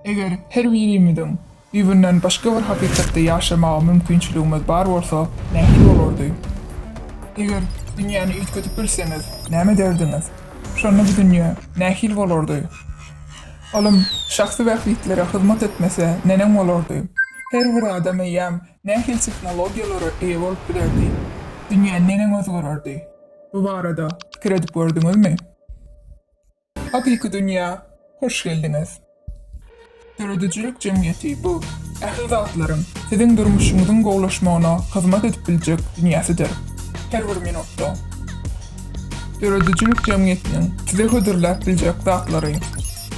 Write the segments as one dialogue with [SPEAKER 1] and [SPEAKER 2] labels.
[SPEAKER 1] Eger her birimiziň düýbünden başga bir hakykatda ýaşamaga mümkinçiligimiz bar bolsa, nähili bolardy? Eger dünýäni üýtgedip bilseňiz, näme ederdiňiz? Şonda bu dünýä nähili bolardy? Ylym şahsy bähbitlere hyzmat etmese, neneň bolardy? Her bir adam eýýäm nähili tehnologiýalara eýe bolup bilerdi? Dünýä neneň özgererdi? Bu barada pikir edip gördüňizmi? Hakyky dünýä hoş geldiňiz! Döredijilik jemgyýeti bu ähli zatlaryň, siziň durmuşyňyzyň gowulaşmagyna hyzmat edip biljek dünýäsidir. Her bir minutda Döredijilik jemgyýetiniň size hödürläp biljek zatlary,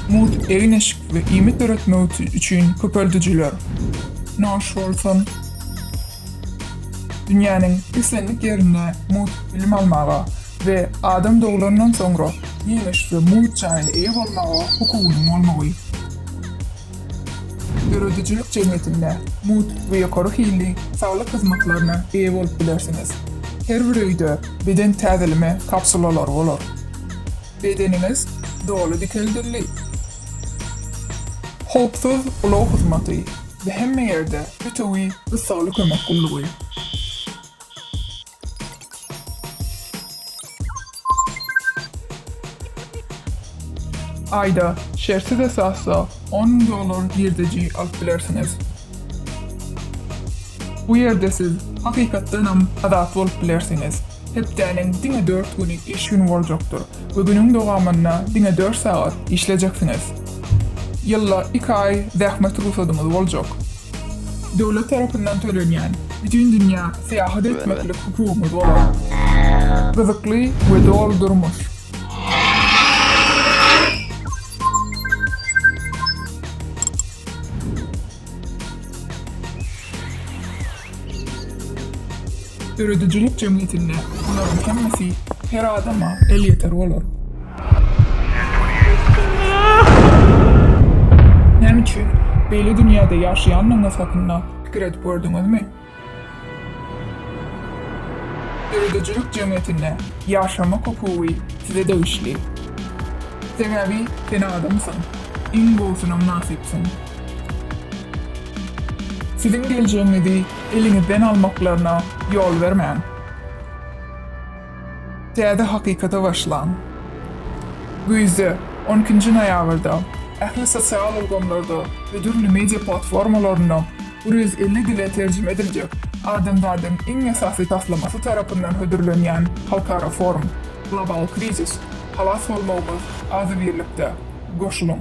[SPEAKER 1] mugt egin-eşik we iýmit döretmek üçin köpeldijiler, naş bolsun, Dünýäniň islendik ýerinde mugt bilim almaga we adam doglandan soňra ýerleşige mugt jaýyna eýe bolmaga hukugynyň bolmagy. Döredijilik jemgyýetinde mugt we ýokary hilli saglyk hyzmatlaryna eýe bolup bilersiňiz. Her bir öýde beden täzeleme kapsulalary bolar. Bedeniňiz doly dikeldildi. Howpsuz ulag hyzmaty. we hemme ýerde Pitowi gyssagly kömek gullugy. Aýda, şertsiz esasda on müň dollar girdeji alyp bilersiňiz. Bu ýerde siz hakykatdanam azat bolup bilersiňiz. Hepdäniň diňe dört güni iş güni boljakdyr we günüň dowamynda diňe dört sagat işlejeksiňiz. Ýylda iki aý zähmet rugsadyňyz boljak. Döwlet tarapyndan tölenýän, bütin dünýä syýahat etmeklik hukugyňyz bolar. Gyzykly we doly durmuş. Döredijilik jemgyýetinde bularyň hemmesi her adama elýeter bolar. Näme üçin beýle dünýäde ýaşaýandygyňyz hakynda pikir edip gördüňizmi? Döredijilik jemgyýetinde ýaşamak hukugy size degişli. Sebäbi sen adamsyň. Iň gowusyna mynasypsyň. Siziň geljegiňizi eliňizden almaklaryna ýol bermäň. Täze hakykata başlaň. Güýzde, on ikinji noýabrda, ähli sosial ulgamlarda we dürli media platformalarynda bir ýüz elli dile terjime ediljek adamzadyň iň esasy taslamasy tarapyndan hödürlenýän halkara forum Global krizis, Halas bolmagymyz, azybirlikde! Goşulyň!